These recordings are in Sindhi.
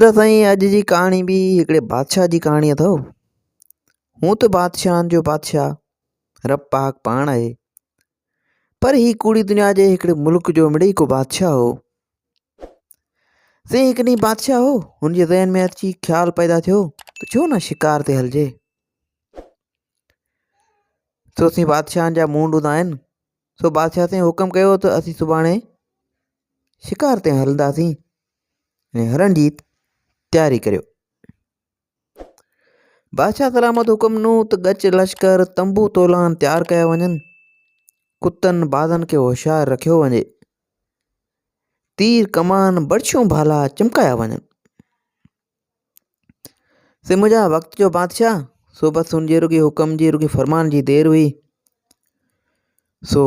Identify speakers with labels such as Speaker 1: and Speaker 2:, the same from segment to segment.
Speaker 1: ته سائين اڄ جي ڪهاڻي به هڪڙي بادشاهه جي ڪهاڻي اٿو هون ته بادشاهن جو بادشاهه رب پاڪ پاڻ آهي پر هي ڪوڙي دنيا جي هڪڙي ملڪ جو مڙي ڪو بادشاهه هو سي هڪ ڏينهن بادشاهه هو هن جي ذهن ۾ اچي خيال پيدا ٿيو ته ڇو نه شڪار تي هلجي سو سي بادشاهن جا مونڊ هوندا آهن سو بادشاهه سائين حڪم ڪيو ته اسين سڀاڻي شڪار تي هلنداسين هرڻ جي تياري ڪريو. بادشاهه ڪرامت حڪم ڏنو ته ڳچ لشڪر تنبو تولان تيار ڪيا وڃن ڪتن بازن کي هوشيار رکيو وڃي تير ڪمان برڇيون ڀالا چمڪايا وڃن سي منهنجا وقت جو بادشاهه سو بس ان جي رڳي حڪم جي رڳي فرمان جي دير هئي سو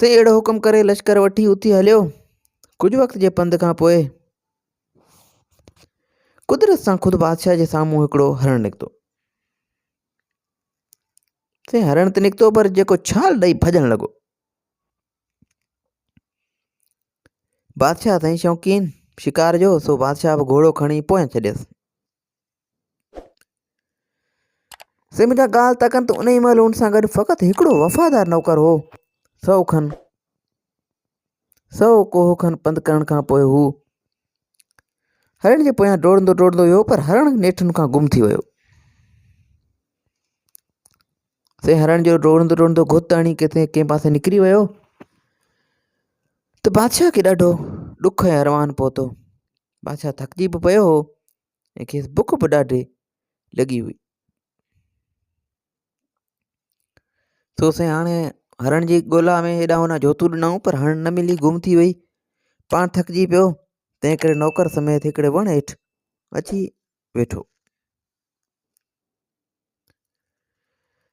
Speaker 1: سائين اهڙو حڪم ڪري لشڪر وٺي اتي هليو ڪجهه وقت جي پنڌ کان پوء قدرت سان خود بادشاهه جي سامهون هڪڙو هرڻ نڪتو سائين هرڻ ته نڪتو پر جيڪو ڇال ڏئي ڀڄڻ لڳو بادشاهه سائين شوقين شڪار جو سو بادشاهه به گهوڙو کڻي پويان ڇڏيس سي منهنجا ڳال ته ڪن ته انهي مهل هن سان گڏ فقط هڪڙو وفادار نوڪر هو. سؤ کن سؤ ڪوهه کن پنڌ ڪرڻ کان پوء هو هرڻ جي پويان ڊوڙندو ڊوڙندو ويو پر هرڻ نيٺن کان گم ٿي ويو. سي هرڻ جو ڊوڙندو ڊوڙندو گهوت هڻي ڪٿي ڪنهن پاسي نڪري ويو ته بادشاهه کي ڏاڍو ڏک ۽ اروان پهتو بادشاهه ٿڪجي به پيو هو ۽ کيس بک به ڏاڍي لڳي هئي سو سائين هاڻي هرڻ جي ڳولا ۾ هيڏا هوڏا جوتون ڏنائون پر هرڻ نه ملي گم ٿي وئي پاڻ ٿڪجي پيو تنهن ڪري نوڪر سميت هڪڙي وڻ هيٺ اچي ويٺو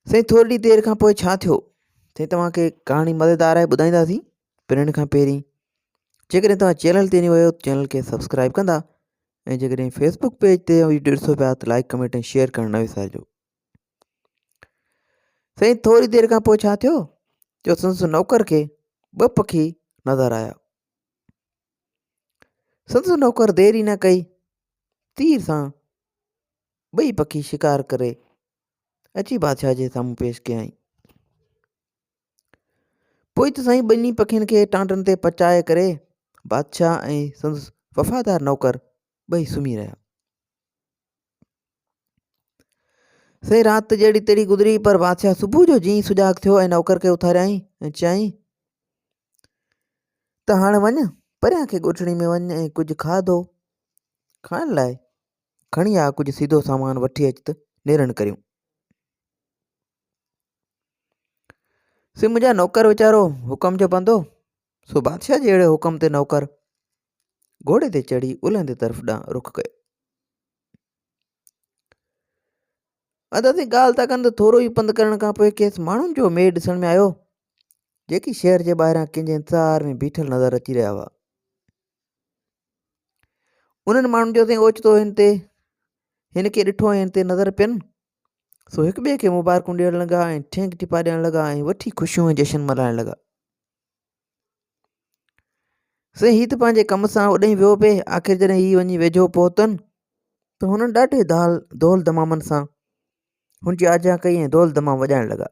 Speaker 1: سائين ٿورڙي دير کان پوء ڇا ٿيو سائين توهان کي ڪهاڻي مزيدار آهي ٻڌائينداسين پرڻ کان پهرين جيڪڏهن توهان چينل تي ويو چينل کي سبسڪرائب ڪندا ۽ جيڪڏهن فيسبوڪ پيج تي ويڊيو ڏسو پيا ته لائڪ ڪمينٽ ۽ شيئر ڪرڻ نه وسارجو سائين ٿوري دير کان پوء ڇا ٿيو جو سندس نوڪر کي ٻه پکي نظر آيا سندس نوڪر دير ئي نه ڪئي تير سان ٻئي پکي شڪار ڪري اچي بادشاهه جي سامهون پيش ڪيائين. پوء ته سائين ٻنهي پکين کي ٽانڊن تي پچائي ڪري بادشاهه ۽ سندس وفادار نوڪر ٻئي سمهي رهيا. سائين رات جهڙي تهڙي گذري پر بادشاهه صبح جو جيئن سجاڳ ٿيو ۽ نوڪر کي اٿاريائين ۽ چيائين ته هاڻ وڃ پريان کي ڳوٺڙي ۾ وڃ ۽ ڪجهه کاڌو کائڻ لاء کڻي آ ڪجهه سيڌو سامان وٺي اچ ته نيرن ڪريون. سي منهنجا نوڪر ويچارو حڪم جو بندو سو بادشاهه جي اهڙي حڪم تي نوڪر گهوڙي تي چڙهي الهندي طرف ڏانهن رخ ڪيو ادا سي ڳالهه ٿا ڪن ته ٿورو ئي پنڌ ڪرڻ کان پوء کيس ماڻهن جو ميڙ ڏسڻ ۾ آيو جيڪي شهر جي ٻاهران ڪنهن جي انتظار ۾ بيٺل نظر اچي رهيا هئا انهن ماڻهن جو سائين اوچتو هن تي هن کي ڏٺو ۽ هن تي نظر پين سو هڪ ٻئي کي مبارڪون ڏيڻ لڳا ۽ ٺينڪ ٽپا ڏيڻ لڳا ۽ وٺي خوشيون ۽ جشن ملهائڻ لڳا سائين هي ته پنهنجي ڪم سان اوڏانهن ويو پئي آخر جڏهن هي وڃي ويجهو پهتن ته هنن ڏاڍي دال دول دمامن سان هن جي آجيان ڪئي ۽ دول دمام وڄائڻ لڳا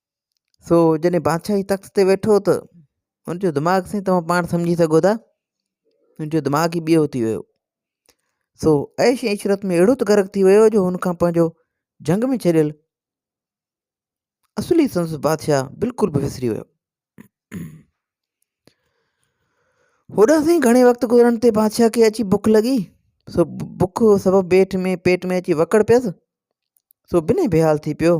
Speaker 1: سو جڏهن بادشاهي تخت تي ويٺو ته ان جو دماغ سائين توهان پاڻ سمجهي سگهو ٿا ان جو دماغ ئي ٻيو ٿي ويو سو عيش ۽ عشرت ۾ اهڙو ته غرق ٿي ويو جو هن کان پنهنجو جنگ ۾ ڇڏيل اصلي سنس بادشاهه بلڪل به وسري ويو هوڏا سائين گهڻي وقت گذرڻ تي بادشاهه کي اچي بک لڳي سو بک سبب پيٽ ۾ پيٽ ۾ اچي وڪڙ پيس سو بنهه بيحال ٿي پيو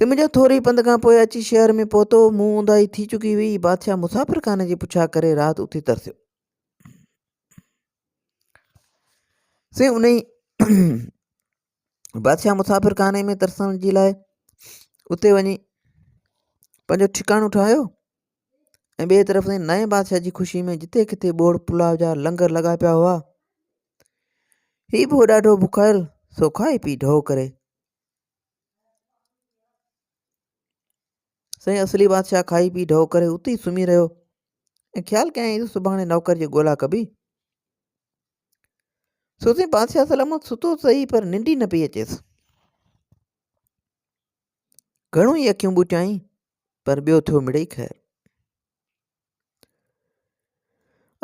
Speaker 1: سم جو ٿوري پنڌ کان پوء اچي شهر ۾ پهتو مون اونداهي ٿي چڪي هئي بادشاهه مسافر خانه جي پڇا ڪري رات اتي ترسيو سي انهي بادشاهه مسافر خانه ۾ ترسڻ جي لاء اتي وڃي پنهنجو ٺڪاڻو ٺاهيو ۽ ٻئي طرف نئين بادشاهه جي خوشي ۾ جتي ڪٿي ٻوڙ پلاء جا لنگر لڳا پيا هئا هي به هو ڏاڍو بکايل، سو کائي پي ڍؤ ڪري. سائين اصلي بادشاهه کائي پي ڍؤ ڪري اتي ئي سمهي رهيو ۽ خيال ڪيائين ته سڀاڻي نوڪر جي ڳولا ڪبي. سو سائين بادشاهه سلامت ستو سهي پر ننڊ ئي نه پئي اچيس. گهڻو ئي اکيون ٻوٽيائين پر ٻيو ٿيو مڙئي خير.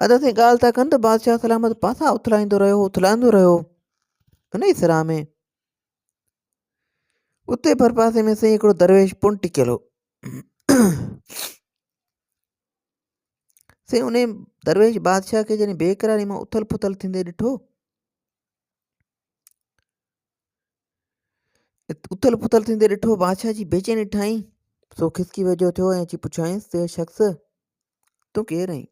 Speaker 1: ادا سائين ڳالهه ٿا ڪن ته بادشاهه سلامت پاسا اٿلائيندو رهيو اٿلائيندو رهيو انهي سرا ۾ اتي ڀرپاسي ۾ سائين هڪڙو درويش پڻ ٽڪيل هو سائين انهي درويش بادشاهه کي جڏهن بيقراري مان اٿل پٿل ٿيندي ڏٺو اٿل پٿل ٿيندي ڏٺو بادشاهه جي بيچيني ٺاهين سو کسڪي ويجهو ٿيو ۽ اچي پڇيائينس ته شخص تون ڪير آهين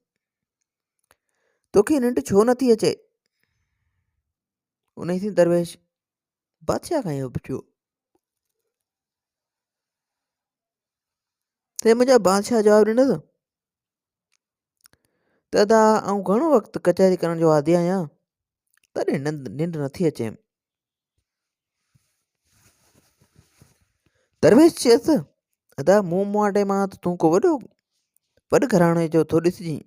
Speaker 1: توکي ننڊ ڇو نٿي اچي ان سين درويش بادشاهه کان اهو پڇيو تنهن منهنجا بادشاهه جواب ڏنس ته ادا آئون گهڻو وقت ڪچهري ڪرڻ جو عادي آهيان تڏهن ننڊ نٿي اچيم درويش چيس ادا مون مواٽي مان ته تون ڪو وڏو وڏ گهراڻي جو ٿو ڏسجين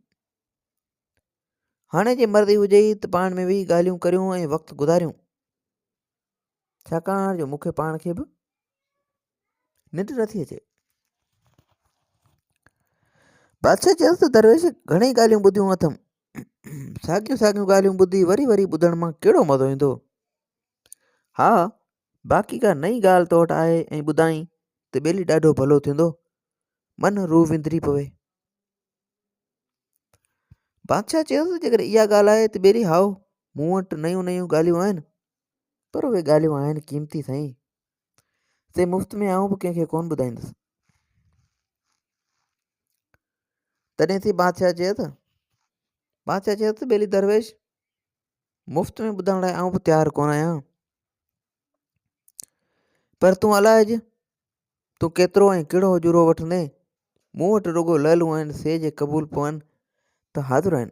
Speaker 1: هاڻي جي مرضي هجي ته پاڻ ۾ ويهي ڳالهيون ڪريون ۽ وقت گذاريون ڇاڪاڻ جو مونکي پاڻ کي به ننڊ نٿي اچي بادشاهه چيس ته درويش گھڻي ڳالهيون ٻڌيون اٿم ساڳيون ساڳيون ڳالهيون ٻڌي وري وري ٻڌڻ مان ڪهڙو مزو ايندو ها باقي ڪا نئي ڳالهه تو وٽ آهي ۽ ٻڌائين ته ٻيلي ڏاڍو ڀلو ٿيندو من روح وندري پوي بادشاهه چيس جيڪڏهن اها ڳالهه آهي ته ٻيلي هائو مون وٽ نيون نيون ڳالهيون آهن پر اهي ڳالهيون آهن قيمتي سائين سي مفت ۾ آئون به ڪنهن کي ڪون ٻڌائيندس تڏهن سي بادشاهه چيو ته بادشاهه چيو ته ٻيلي درويش مفت ۾ ٻڌائڻ لاء آئون به تيار ڪون آهيان پر تون الاج تون ڪيترو ۽ ڪهڙو اجورو وٺندين مون وٽ رڳو لالون آهن سي جي قبول پون ته حاضر آهن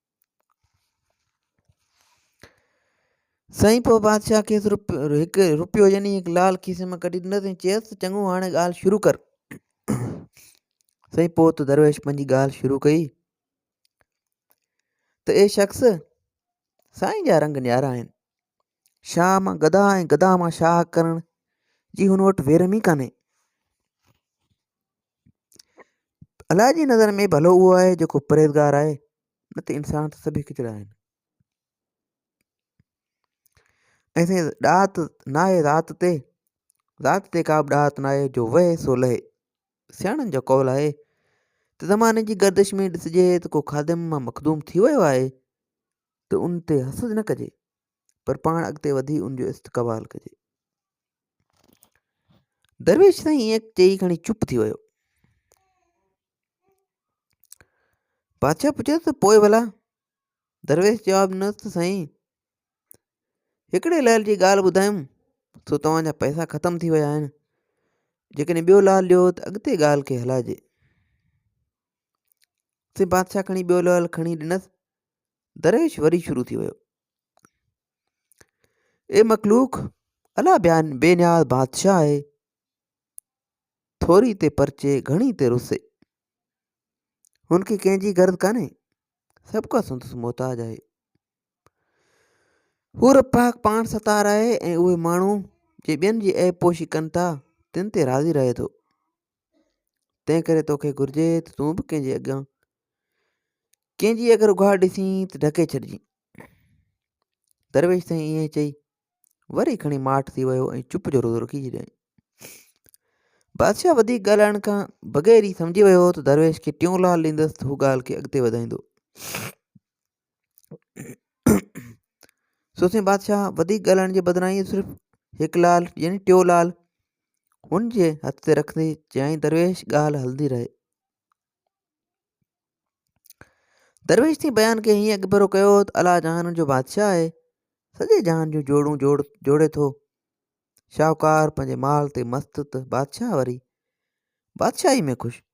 Speaker 1: سائين پوء بادشاهه کيس هڪ روپيو يعني هڪ لال کيسي مان ڪڍي ڏنس ۽ چيس ته چڱو هاڻي ڳالهه شروع ڪر سائين پوء ته درويش پنهنجي ڳالهه شروع ڪئي ته اي شخص سائين جا رنگ نيارا آهن شاهه مان گدا ۽ گدا مان شاهه ڪرڻ جي هن وٽ ويرم ئي ڪانهي. الله جي نظر ۾ ڀلو اهو آهي جيڪو پرهيزگار آهي نه ته انسان ته سڀ هڪجهڙا آهن ۽ سائين ڏات ناهي ذات تي ذات تي ڪا به ڏات ناهي جو وهي سو لهي سياڻن جو قول آهي ته زماني جي گردش ۾ ڏسجي ته ڪو خادم مان مخدوم ٿي ويو آهي ته ان تي حسد نه ڪجي پر پاڻ اڳتي وڌي ان جو استقبال ڪجي. درويش سائين ائين چئي کڻي چپ ٿي ويو بادشاهه پڇيو ته پوء ڀلا درويش جواب ڏنو ته سائين هڪڙي لال جي ڳالهه ٻڌايم سو توهان جا پئسا ختم ٿي ويا آهن جيڪڏهن ٻيو لال ڏيو ته اڳتي ڳالهه کي هلائجي سي بادشاهه کڻي ٻيو لال کڻي ڏنس دريش وري شروع ٿي ويو. اي مخلوق الا بيان بي نياز بادشاهه آهي ٿوري تي پرچي گهڻي تي رسي هن کي ڪنهن جي غرض ڪانهي سڀ ڪا سندس محتاج آهي هو رب پاڪ پاڻ ستار آهي ۽ اهي ماڻهو جي ٻين جي عيب پوشي ڪن ٿا تن تي راضي رهي ٿو تنهن ڪري توکي گهرجي ته تون به ڪنهن جي اڳيان ڪنهن جي اگر اگهاڙ ڏسين ته ڍڪي ڇڏجين درويش سائين ائين چئي وري کڻي ماٺ ٿي ويو ۽ چپ جو روزو رکي ڇڏيائين بادشاهه وڌيڪ ڳالهائڻ کان بغير ئي سمجهي ويو هو ته درويش کي ٽيون لال ڏيندس ته هو ڳالهه کي اڳتي وڌائيندو سوسين بادشاهه وڌيڪ ڳالهائڻ جي بدران ائين صرف هڪ لعل يعني ٽيو لعل هن جي هٿ تي رکندي چيائين درويش ڳالهه هلندي رهي درويش تي بيان کي هيئن اڳڀرو ڪيو ته الا جهانن جو بادشاهه آهي سڄي جهان جون جوڙون جوڙ جوڙي ٿو شاهوڪار پنهنجي مال تي مست ته بادشاهه وري بادشاهي ۾ خوش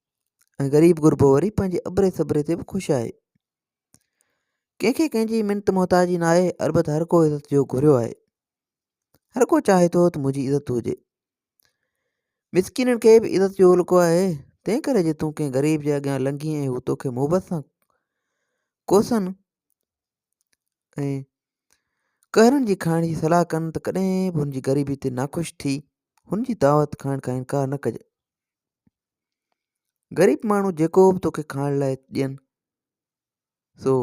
Speaker 1: ۽ غريب غربو وري پنهنجي ابري صبري تي به خوش آهي ڪنهن کي ڪنهن جي منت محتاجي نه آهي البت هر ڪو عزت جو گهريو آهي هر ڪو چاهي ٿو ته منهنجي عزت هجي مسڪينن کي به عزت جو الڪو آهي تنهن ڪري جي تون ڪنهن غريب جي اڳيان لنگهين ۽ هو توکي محبت سان ڪوسن ۽ قهرن جي کائڻ جي صلاح ڪن ته ڪڏهن به هن جي غريبي تي ناخوش ٿي هن جي دعوت کائڻ کان انڪار نه ڪجي غريب ماڻهو جيڪو به توکي کائڻ لاء ڏين سو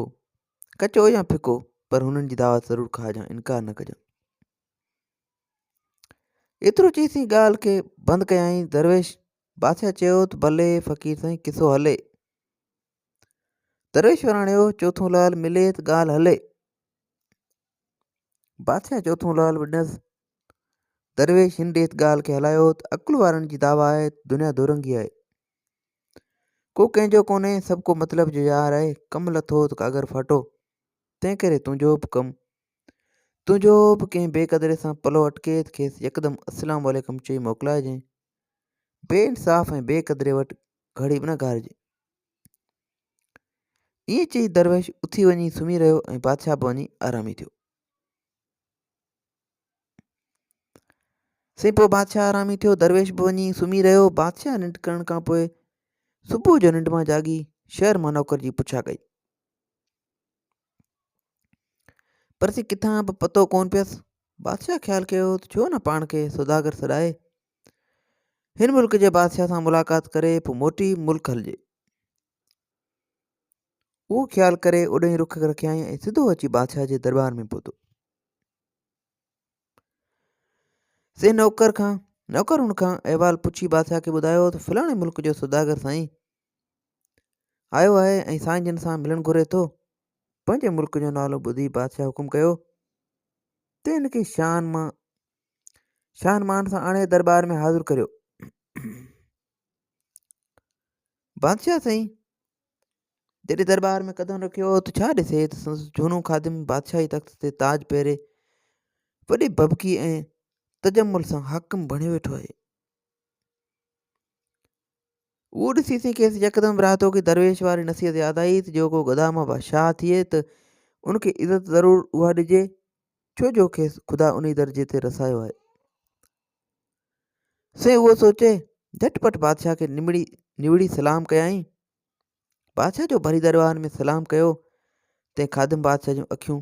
Speaker 1: ڪچو يا ڦڪو پر هنن جي دعوت ضرور کائجان انڪار نه ڪجان ايترو چئي سين ڳالهه کي بند ڪيائين درويش بادشاهه چيو ته ڀلي فقير سائين قصو هلي درويش وراڻيو چوٿون لال ملي ته ڳالهه هلي بادشاهه چوٿون لال به ڏنس. درويش هن ريت ڳالهه کي هلايو ته عقل وارن جي دعويٰ آهي ته دنيا دورنگي آهي ڪو ڪنهن جو ڪونهي سڀ ڪو مطلب جو يار آهي ڪم لٿو ته ڪاڳر ڦاٽو تنهن ڪري تنهنجو به ڪم تنهنجو به ڪنهن بي قدري سان پلو اٽڪي ته کيس يڪدم السلام عليڪم چئي موڪلائجين بي انصاف ۽ بي قدري وٽ گهڙي به نه گهارجي ائين چئي درويش اٿي وڃي سمهي رهيو ۽ بادشاهه به وڃي آرامي ٿيو سائين پوء بادشاهه آرامي ٿيو درويش به وڃي سمهي رهيو بادشاهه ننڊ ڪرڻ کان پوء صبح جو ننڊ مان جاڳي شهر مان نوڪر جي پڇا ڪئي پر سي ڪٿان به پتو ڪون پيس بادشاهه خيال ڪيو ته ڇو نه پاڻ کي سوداگر سڏائي هن ملڪ جي بادشاهه سان ملاقات ڪري پوء موٽي ملڪ هلجي. اهو خيال ڪري اوڏهين رخ رکيائين ۽ سڌو اچي بادشاهه جي دربار ۾ پهتو سي نوڪر کان نوڪر هن کان احوال پڇي بادشاهه کي ٻڌايو ته فلاڻي ملڪ جو سوداگر سائين آيو آهي ۽ سائين جن سان ملڻ گهري ٿو پنهنجي ملڪ جو نالو ٻڌي بادشاهه حڪم ڪيو ته هن کي شان مان شان مان سان آڻي دربار ۾ حاضر ڪريو. بادشاهه سائين جڏهن دربار ۾ قدم رکيو ته ڇا ڏسي ته سندس جھونو خادم بادشاهي تخت تي تاج پهري وڏي ببڪي ۽ تجمل سان حاڪم بڻيو ويٺو آهي اهو ڏسي سين کيس يڪدم براهتو ڪي درويش واري نصيحت ياد آئي ته جو ڪو گدامه بادشاهه ٿئي ته ان کي عزت ضرور اها ڏجي ڇو جو کيس خدا انهي درجي تي رسايو آهي. سين اهو سوچي جهٽ پٽ بادشاهه کي نمڙي نوڙي سلام ڪيائين. بادشاهه جو ڀري درواهن ۾ سلام ڪيو تين خادم بادشاهه جون اکيون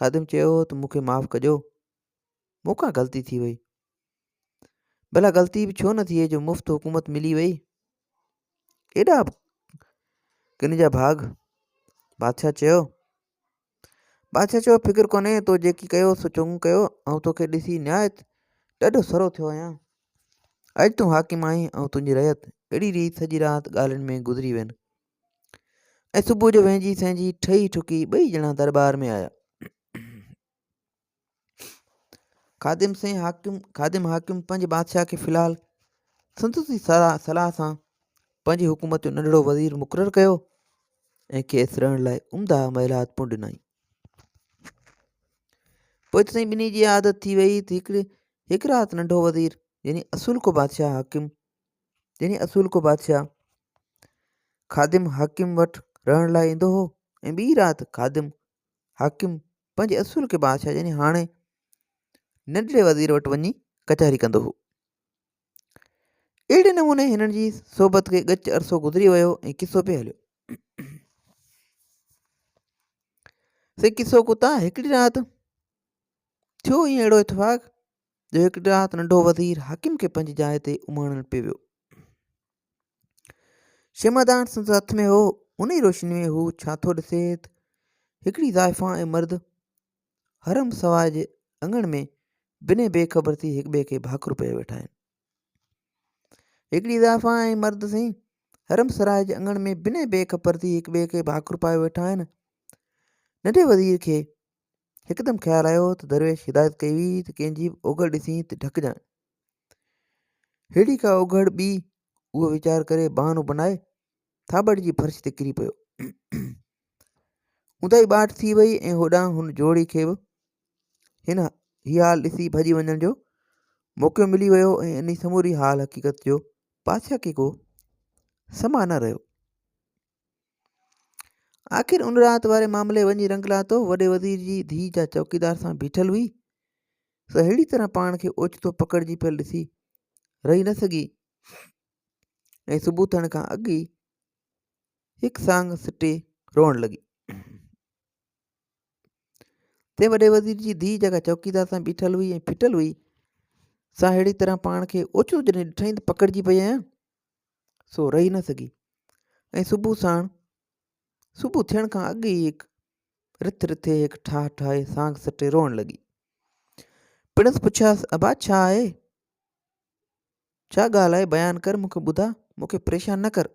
Speaker 1: خادم چيو هو ته مون کي معاف ڪجو مون کان غلطي ٿي وئي ڀلا غلطي به ڇو نه ٿئي جو مفت حڪومت ملي وئي ايڏا ڪن جا ڀاڳ بادشاهه چيو بادشاهه چيو فڪر ڪونهي تو جيڪي ڪيو سو چڱو ڪيو آئون توکي ڏسي نهايت ڏاڍو سرو ٿيو آهيان اڄ تون حاڪم آهين آئون تنهنجي رعيت اهڙي ريت سڄي رات ڳالهين ۾ گذري وين ۽ صبح جو وهنجي سهنجي ٺهي ٺڪي ٻئي ڄڻا دربار ۾ آيا خادم سين حاڪم خادم حاڪم پنهنجي بادشاهه کي في الحال سندس جي صلاح سان پنهنجي حڪومت جو ننڍڙو وزير مقرر ڪيو ۽ کيس رهڻ لاء عمده محلات پڻ ڏنائين پوء ته سائين ٻنهي جي عادت ٿي وئي ته هڪڙي هڪ رات ننڍو وزير يعني اصول کو بادشاهه حاڪم جنھن اصول ڪو بادشاھه خادم حاڪم وٽ رھڻ لاء ايندو ھو ۽ ٻي رات خادم حاڪم پنھنجي اصول ڪي بادشاھه يعني ھاڻي ننڍڙي وزير وٽ وڃي ڪچھري ڪندو ھو. اھڙي نموني ھنن جي صحبت کي ڳچ عرصو گذري ويو ۽ قصو پئي ھليو. سي قصو ڪو تان ھڪڙي رات ٿيو ۽ اھڙو اتفاق جو هڪ ڏينهن ننڍو وزير حاڪم کي پنهنجي جاء تي اماڻڻ پئي ويو شمعدان سندس هٿ ۾ هو ان ئي روشني ۾ هو ڇا ٿو ڏسي ته هڪڙي زائفان ۽ مرد حرم سواء جي اڱڻ ۾ بني بي خبر ٿي هڪ ٻئي کي ڀاڪر پيا ويٺا آهن هڪڙي زائفان ۽ مرد سائين حرم سراء جي اڱڻ ۾ بني بي خبر ٿي هڪ ٻئي کي ڀاڪر پايو ويٺا آهن ننڍي وزير کي هڪدم خيال آيو ته درويش هدايت ڪئي هئي ته ڪنهن جي به اوگهڙ ڏسين ته ڍڪجانء. ههڙي ڪا اوگهڙ ٻي، اهو ويچار ڪري بهانو بنائي ٿاٻڙ جي فرش تي ڪري پيو. اونداهي ٻاٽ ٿي وئي ۽ هوڏانهن هن جوڙي کي به هن هي حال ڏسي ڀڄي وڃڻ جو موقعو ملي ويو ۽ انهي سموري حال حقيقت جو پاسياڪي ڪو سما نه رهيو. آخر ان رات واري معاملي وڃي رنگ لاتو وڏي وزير جي ڌيء جا چوڪيدار سان بيٺل هئي سو اهڙي طرح پاڻ کي اوچتو پڪڙجي پيل ڏسي رهي نه سگهي ۽ صبح ٿيڻ کان اڳ ئي هڪ سانگ سٽي روئڻ لڳي تي وڏي وزير جي ڌيء جيڪا چوڪيدار سان بيٺل هئي ۽ ڦٽل هئي سا اهڙي طرح پاڻ کي اوچتو جڏهن ڏٺائين ته پڪڙجي پئي آهيان سو رهي نه سگهي ۽ صبح ساڻ صبح ٿيڻ کان اڳ ئي هڪ رٿ رٿي هڪ ٺاهه ٺاهي سانگ سٽي روئڻ لڳي پڻس پڇياس ابا ڇا آهي ڇا ڳالهه آهي بيان ڪر مون کي ٻڌا مون کي پريشان نه ڪر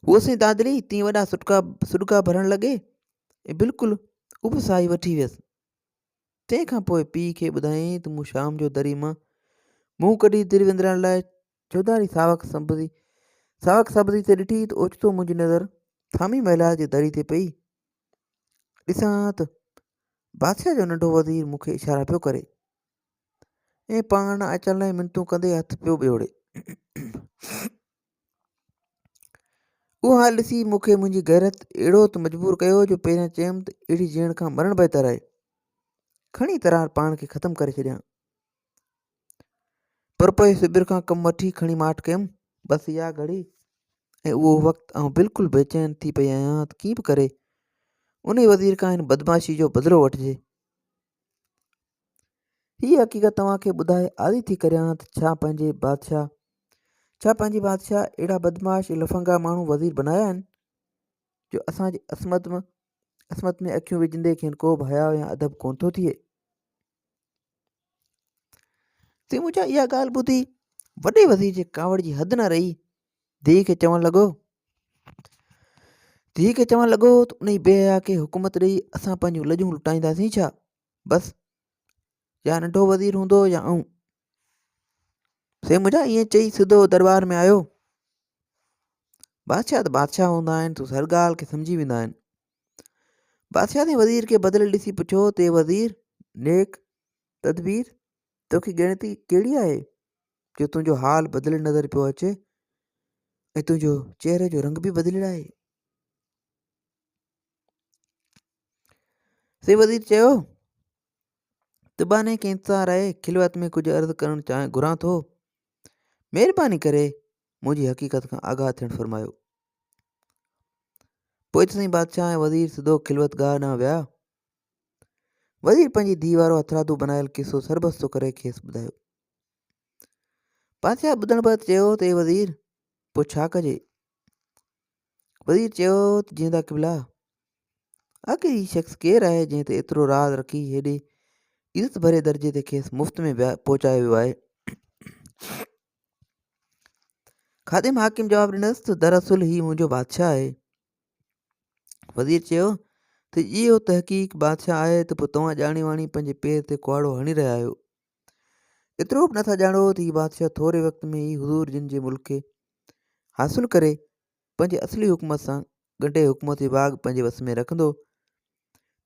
Speaker 1: هو سين دادلي تين وڏا سڏڪا سڏڪا ڀرڻ لڳي ۽ بلڪل اڀ ساهي وٺي ويس تنهن کان پوء پيء کي ٻڌايائين ته مون شام جو دري مان منهن ڪڍي در وندرائڻ لاء چوڌاري ساوڪ سبزي ساوڪ سبزي تي ڏٺي ته اوچتو منهنجي نظر ٿامي محلات جي دري تي پئي. ڏسان ها ته بادشاهه جو ننڍو وزير مون کي اشارا پيو ڪري ۽ پاڻ اچڻ لاء منتون ڪندي هٿ پيو ٻيوڙي. اهو حال ڏسي مون کي منهنجي غيرت اهڙو ته مجبور ڪيو جو پهريان چيم ته اهڙي جيئڻ کان مرڻ بهتر آهي. کڻي ترار پاڻ کي ختم ڪري ڇڏيان. پر پوء سبر کان ڪم وٺي کڻي ماٺ ڪيم. بس اها گهڙي ۽ اهو وقت آئون بلڪل بيچين ٿي پئي آهيان ته ڪيئن به ڪري انهي وزير کان هن بدمعاشي جو بدلو وٺجي. هيء حقيقت توهان کي ٻڌائي عاري ٿي ڪريان ها ته ڇا پنهنجي بادشاهه ڇا پنهنجي بادشاهه اهڙا بدمعاش ۽ لفنگا ماڻهو وزير بنايا آهن جو اسان جي عصمت م عصمت ۾ اکيون وجهندي کين ڪو به حياء يا ادب ڪونه ٿو ٿئي. تيموجا اها ڳالهه ٻڌي وڏي وزير جي ڪاوڙ جي حد نه رهي ڌيء کي چوڻ لڳو ڌيء کي چوڻ لڳو ته انهي بي حيا کي حڪومت ڏئي اسان پنهنجون لڄون لٽائينداسين ڇا بس يا ننڍو وزير هوندو يا آئون سي منهنجا ائين چئي سڌو دربار ۾ آيو بادشاهه ته بادشاهه هوندا آهن سو هر ڳالهه کي سمجهي ويندا آهن بادشاهه ۽ وزير کي بدليل ڏسي پڇيو ته وزير نيڪ تدبير توکي ڳڻتي ڪهڙي آهي جو تنهنجو حال بدليل نظر پيو اچي ۽ تنهنجو چهري جو رنگ به بدليل آهي سي وزير چيو تباني کي انتظار آهي خلوت ۾ ڪجهه عرض ڪرڻ چاهي گهران ٿو مهرباني ڪري منهنجي حقيقت کان آگاهه ٿيڻ فرمايو پوء سائين بادشاهه ۽ وزير سڌو خلوت گاهه ڏانهن ويا وزير پنهنجي ڌيء وارو هٿرادو بنايل قصو سربستو ڪري کيس ٻڌايو. بادشاهه ٻڌڻ بعد چيو ته اي وزير پوء ڇا ڪجي؟ وزير چيو ته جيندا قبلا آخر هي شخص ڪير آهي جنهن تي ايترو راز رکي هيڏي عزت ڀري درجي تي کيس مفت ۾ پهچايو ويو آهي؟ خادم حاڪم جواب ڏنس ته دراصل هي منهنجو بادشاهه آهي. وزير چيو ته جي اهو تحقيق بادشاهه آهي ته پوء توهان ڄاڻي واڻي پنهنجي پير تي ڪهاڙو هڻي رهيا آهيو. ايترو به نٿا ڄاڻو ته هي بادشاهه ٿوري وقت ۾ ئي حضور جن جي ملڪ کي حاصل ڪري پنهنجي اصلي حڪومت سان ڳنڍي حڪومت جي باغ پنهنجي وس ۾ رکندو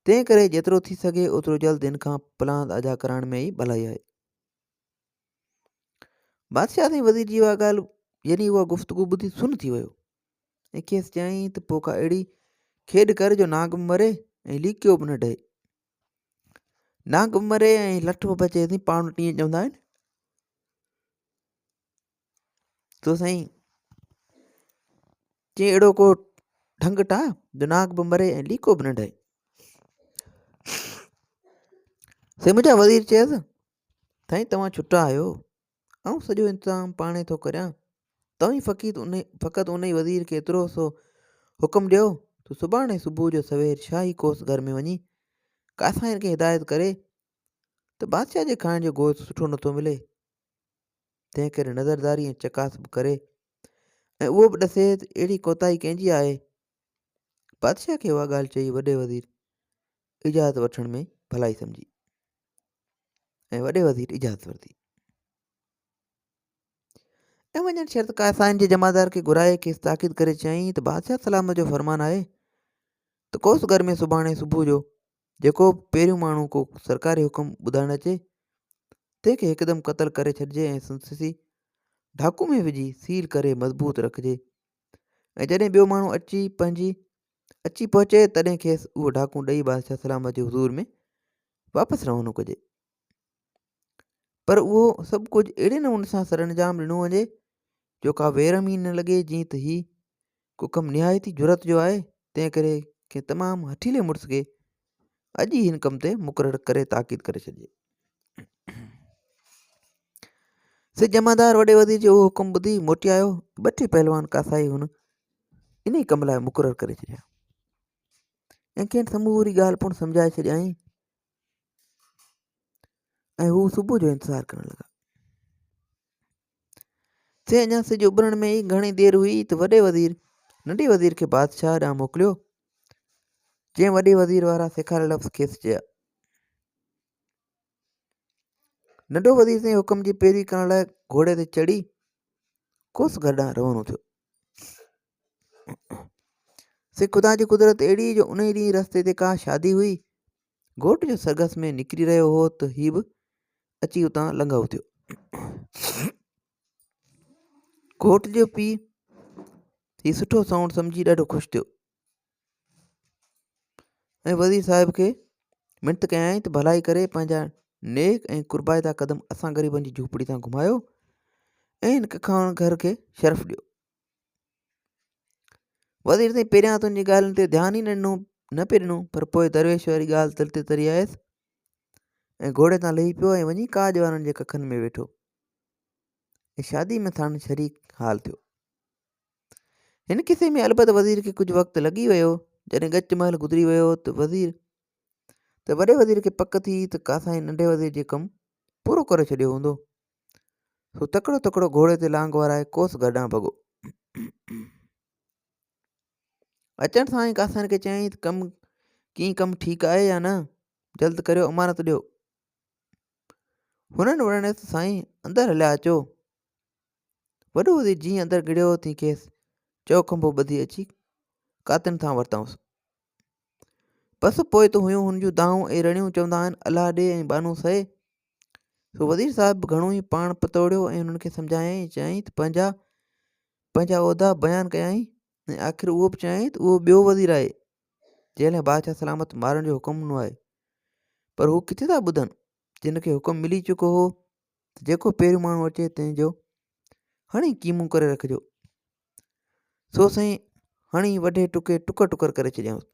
Speaker 1: تنهن ڪري جيترو ٿي سگهي اوترو جلد هن کان پلاند ادا ڪرائڻ ۾ ئي ڀلائي آهي بادشاهه ۽ وزير جي اها ڳالهه يعني اها گفتگو ٻڌي سن ٿي ويو ۽ کيس چيائين ته پوء ڪا اهڙي کيڏ ڪر جو نانگ به مري ۽ ليڪيو به نه ڊهي نانگ به مري ۽ لٺ به بچي سائين پاڻ وٽ ائين چوندا آهن تو سائين چي اهڙو ڪو ڍنگ ٺاهه جو ناگ به مري ۽ ليڪو به نه ڊهي سائين منهنجا وزير چيس سائين توهان ڇٽا آهيو آئون سڄو انتظام پاڻهي ٿو ڪريان، توهين فقط انهي وزير کي ايترو سو حڪم ڏيو ته سڀاڻي صبح جو سوير شاهي ڪوس گهر ۾ وڃي ڪاسائين کي هدايت ڪري ته بادشاهه جي کائڻ جو گوشت سٺو نٿو ملي، تنهن ڪري نظرداري ۽ چڪاس به ڪري ۽ اهو به ڏسي ته اهڙي ڪوتاهي ڪنهن جي آهي. بادشاهه کي اها ڳالهه چئي وڏي وزير اجازت وٺڻ ۾ ڀلائي سمجهي. ۽ وڏي وزير اجازت ورتي ۽ وڃڻ شرط قائسائن جي جمعدار کي گهرائي کيس تاڪيد ڪري چيائين ته بادشاهه سلامت جو فرمان آهي ته ڪوس گهر ۾ سڀاڻي صبح جو جيڪو پهريون ماڻهو ڪو سرڪاري حڪم ٻڌائڻ اچي تنهن کي هڪدم قتل ڪري ڇڏجي ۽ سنسسي ڍاڪو ۾ وجهي سيل ڪري مضبوط رکجي ۽ جڏهن ٻيو ماڻهو اچي پنهنجي اچي پهچي تڏهن کيس اهو ڍاڪو ڏئي بادشاهه سلامت جي حضور ۾ واپس روانو ڪجي پر اهو سڀ ڪجهه اهڙي نموني سان سر انجام ڏنو وڃي جو ڪا ويرم ئي نه لڳي جيئن ته هي ڪو ڪم نهايت ئي جرت جو آهي تنهن ڪري ڪنهن تمام هٺيلي مڙس کي اڄ ئي هن ڪم تي مقرر ڪري تاڪيد ڪري ڇڏجي سي جمعدار وڏي وزير جو اهو حڪم ٻڌي موٽي آيو ٻه ٽي پهلوان ڪاسائي هن ان ئي ڪم لاء مقرر ڪري ڇڏيا ۽ کين سموري ڳالهه پڻ سمجهائي ڇڏيائين ۽ هو صبح جو انتظار ڪرڻ لڳا سي اڃا سج اڀرڻ ۾ ئي گهڻي دير هئي ته وڏي وزير ننڍي وزير کي بادشاهه ڏانهن موڪليو جنهن وڏي وزير وارا سيکاريل لفظ کيس چيا ننڍو وزير سائين حڪم جي پيروي ڪرڻ لاء گهوڙي تي چڙهي کوس گهر ڏانهن روانو ٿيو سي خدا جي قدرت اهڙي جو ان ڏينهن رستي تي ڪا شادي هئي گهوٽ جو سرگس ۾ نڪري رهيو هو ته هي به اچي اتان لنگهو ٿيو گهوٽ جو پيء هي سٺو سائونڊ سمجهي ڏاڍو خوش ٿيو ۽ وزير صاحب کي منٿ ڪيائين ته ڀلائي ڪري پنهنجا نيڪ ۽ قربائتا قدم اسان غريبن جي جهوپڙي تان گهمايو ۽ هن ککاڻ گهر کي شرف ڏيو وزير سائين پهريان تن جي ڳالهين تي ڌيان ئي نه ڏنو نه پئي ڏنو پر پوء درويش واري ڳالهه تل تي تري آيس ۽ گهوڙي تان لهي پيو ۽ وڃي ڪاڄ وارن جي ڪکن ۾ ويٺو ۽ شادي ۾ ٿاڻ شريڪ حال ٿيو هن قصي ۾ البت وزير کي ڪجهه وقت لڳي ويو، جڏهن ڳچ مهل گذري ويو ته وزير ته وڏي وزير کي پڪ ٿي ته ڪاسائين ننڍي وزير جو ڪم پورو ڪري ڇڏيو هوندو. سو تڪڙو تڪڙو گهوڙي تي لانگ وارائي ڪوس گهر ڏانهن ڀڳو. اچڻ سان ئي ڪاسائين کي چيائين ته ڪم ڪيئن ڪم ٺيڪ آهي يا نه جلد ڪريو امانت ڏيو هنن وڙڻيس ته سائين اندر هليا اچو وڏو وزير جيئن اندر گهڙيو تيئن کيس چئو کنڀو ٻڌي اچي ڪاتن تان ورتائونس. بس پوء ته هيون هن جون دانهون ۽ رڙيون چوندا آهن الله ڏي ۽ ٻانهون سهي. سو وزير صاحب به گهڻو ئي پاڻ پتوڙيو ۽ هنن کي سمجهايائين چيائين ته پنهنجا پنهنجا عهدا بيان ڪيائين ۽ آخر اهو به چيائين ته اهو ٻيو وزير آهي جنهن لاء بادشاهه سلامت مارڻ جو حڪم ڏنو آهي پر هو ڪٿي ٿا ٻڌن جن کي حڪم ملي چڪو هو ته جيڪو پهريون ماڻهو اچي تنهن جو هڻي قيمون ڪري رکجو سو سائين هڻي وڍي ٽڪي ٽڪر ٽڪر ڪري ڇڏيائونس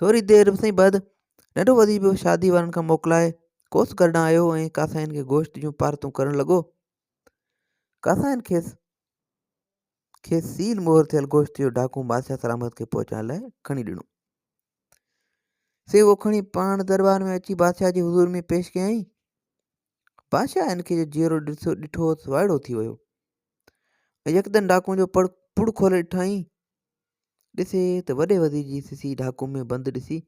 Speaker 1: ٿوري دير سائين بعد ننڍو وزير به شادي وارن کان موڪلائي ڪوس گھر ڏانهن آيو ۽ ڪاسائين کي گوشت جون پارتون ڪرڻ لڳو ڪاسائين کيس کيس سيل مهر ٿيل گوشت جو ڊاڪو بادشاهه سلامت کي پهچائڻ لاء کڻي ڏنو سي اهو کڻي پاڻ دربار ۾ اچي بادشاهه جي حضور ۾ پيش ڪيائين. بادشاهه ان کي جو جيئرو ڏٺو هوس وائڙو ٿي ويو ۽ يڪدم ڊاڪون جو پڙ پڙ کولي ڏٺائين. ڏسي ته وڏي وزير جي سسي ڊاڪو ۾ بند ڏسي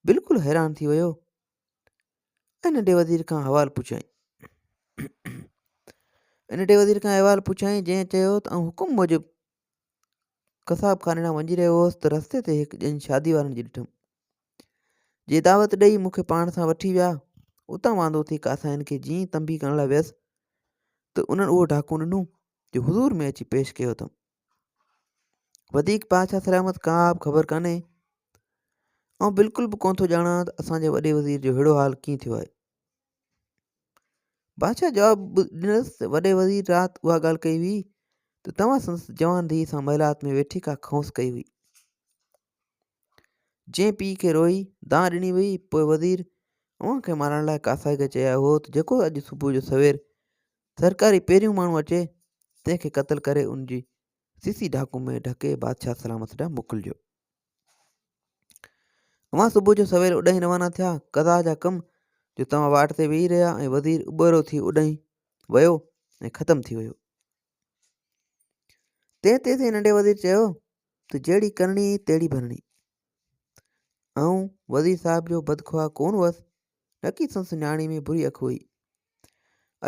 Speaker 1: بلڪل حيران ٿي ويو ۽ ننڍي وزير کان حوال پڇيائين. ننڍي وزير کان احوال پڇيائين جنهن چيو ته آئون حڪم موجب قصاب خاني ڏانهن وڃي رهيو هوس ته رستي تي هڪ ڄڃ شادي وارن جي ڏٺم، جي دعوت ڏيئي مون کي پاڻ سان وٺي ويا. اتان واندو ٿي ڪاسائين کي جيئن ئي تنبيهه ڪرڻ لاء ويس ته انهن اهو ڍاڪو ڏنو جو حضور ۾ اچي پيش ڪيو اٿم. وڌيڪ بادشاهه سلامت ڪا به خبر ڪانهي. آئون بلڪل به ڪونه ٿو ڄاڻان ته اسان جي وڏي وزير جو ههڙو حال ڪيئن ٿيو آهي. بادشاهه جواب ڏنس ته وڏي وزير رات اها ڳالهه ڪئي هئي ته توهان سندس جوان ڌيء سان محلات ۾ ويٺي ڪا کونس ڪئي هئي جنهن پيء کي روئي دانهن ڏني وئي پوء وزير اوهان کي مارڻ لاء ڪاسائي کي چيائي هو ته جيڪو اڄ صبح جو سوير سرڪاري پهريون ماڻهو اچي تنهن کي قتل ڪري ان جي سيسي ڍاڪو ۾ ڍڪي بادشاهه سلامت ڏانهن موڪلجو اوهان صبح جو سوير اڏهين روانا ٿيا قضا جا ڪم جو توهان واٽ تي ويهي رهيا ۽ وزير اٻهرو ٿي اڏهين ويو ۽ ختم ٿي ويو تنهن تي سائين ننڍي وزير چيو ته جهڙي ڪرڻي تهڙي ڀرڻي آئون وزير صاحب جو بدخواهه ڪون هوس نڪي سنس نياڻي ۾ بري اک هئي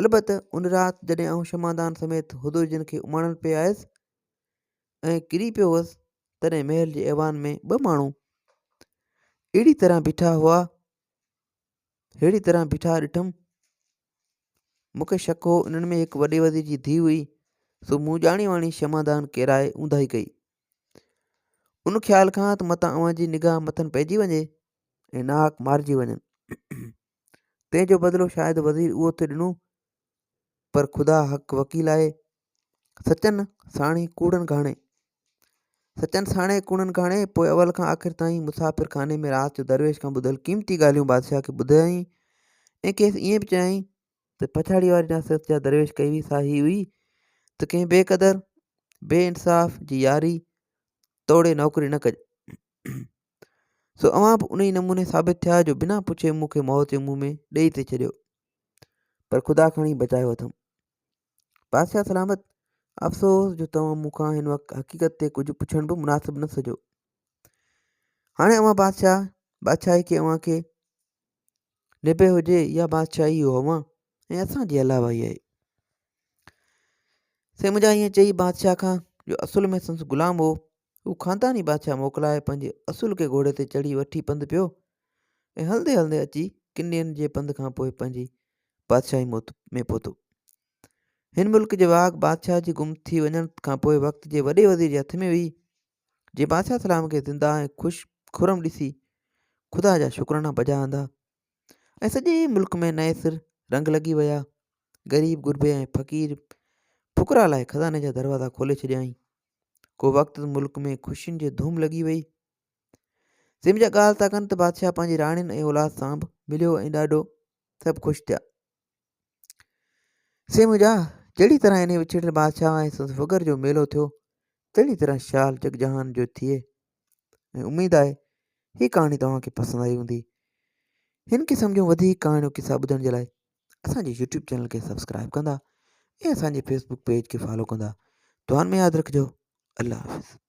Speaker 1: البت ان رات جڏهن آئون شمعدان سميت حضور جن کي اماڻڻ پئي آيس ۽ ڪري پيو هوس تڏهن محل جي ايوان ۾ ٻه ماڻهو اهڙي طرح بيٺا هئا ههڙي طرح بيٺا ڏٺم مون کي شڪ هو انهن ۾ هڪ وڏي وزير جي ڌي هئي سو مون ڄاڻي واڻي شمادان ڪيرائي اونداهي ڪئي ان خيال کان ته متان اوهان جي نگاهه مٿن پئجي وڃي ۽ ناحق مارجي وڃن تنهن جو بدلو شايد وزير اهو ٿي ڏنو پر خدا حق وڪيل آهي. سچن ساڻي ڪوڙن گهاڻي سچن ساڻي ڪوڙن گهاڻي پوء اول کان آخر تائين مسافر خاني ۾ رات جو درويش کان ٻڌل قيمتي ڳالهيون بادشاهه کي ٻڌايائين ۽ کيس ائين به چيائين ته پڇاڙي واري نصيحت جا درويش ڪئي هئي سا هي هئي ته ڪنهن بي قدر بي انصاف جي ياري توڙي نوڪري نه ڪج سو اوهان به ان ئي نموني ثابت ٿيا جو بنا پڇي مون کي موت جي منهن ۾ ڏيئي ٿي ڇڏيو پر خدا کڻي بچايو اٿم بادشاهه سلامت افسوس جو توهان مون کان هن وقت حقيقت تي ڪجهه پڇڻ به مناسب نه سجو هاڻي اوهان بادشاهه بادشاهي کي اوهان کي نبي هجي يا بادشاهي اوهان ۽ اسان جي علاوه ئي آهي سي منهنجا ائين چئي بادشاهه کان جو اصل ۾ سنس غلام هو هو خانداني بادشاهه موڪلائي پنهنجي اصول کي گهوڙي تي چڙهي وٺي پنڌ پيو ۽ هلندي هلندي اچي ڪن ڏينهن جي پنڌ کان پوء پنهنجي بادشاهي موت ۾ پهتو هن ملڪ جي واڳ بادشاهه جي گم ٿي وڃڻ کان پوء وقت جي وڏي وزير جي هٿ ۾ هئي جي بادشاهه سلام کي زنده ۽ خوش خرم ڏسي خدا جا شڪرانا بجا آندا ۽ سڄي ملڪ ۾ نئين سر رنگ لڳي ويا غريب غربي ۽ فقير فقرا لاء خزاني جا دروازا کولي ڇڏيائين ڪو وقت ملڪ ۾ خوشين جي ڌوم لڳي وئي سم جا ڳالهه ٿا ڪن ته بادشاهه پنهنجي راڻين ۽ اولاد سان به مليو ۽ ڏاڍو سڀ خوش ٿيا سم جا جهڙي طرح انهي وڇڙيل بادشاهه ۽ سندس فگر جو ميلو ٿيو تهڙي طرح شال جگ جهان جو ٿئي ۽ اميد آهي هي ڪهاڻي توهان کي پسند آئي هوندي هن قسم جون وڌيڪ ڪهاڻيون قصا ٻڌڻ جي لاء اسان جي يوٽيوب چينل کي سبسڪرائب ڪندا ۽ اسان جي فيسبوڪ پيج کي فالو ڪندا دعائن ۾ ياد رکجو الله حافظ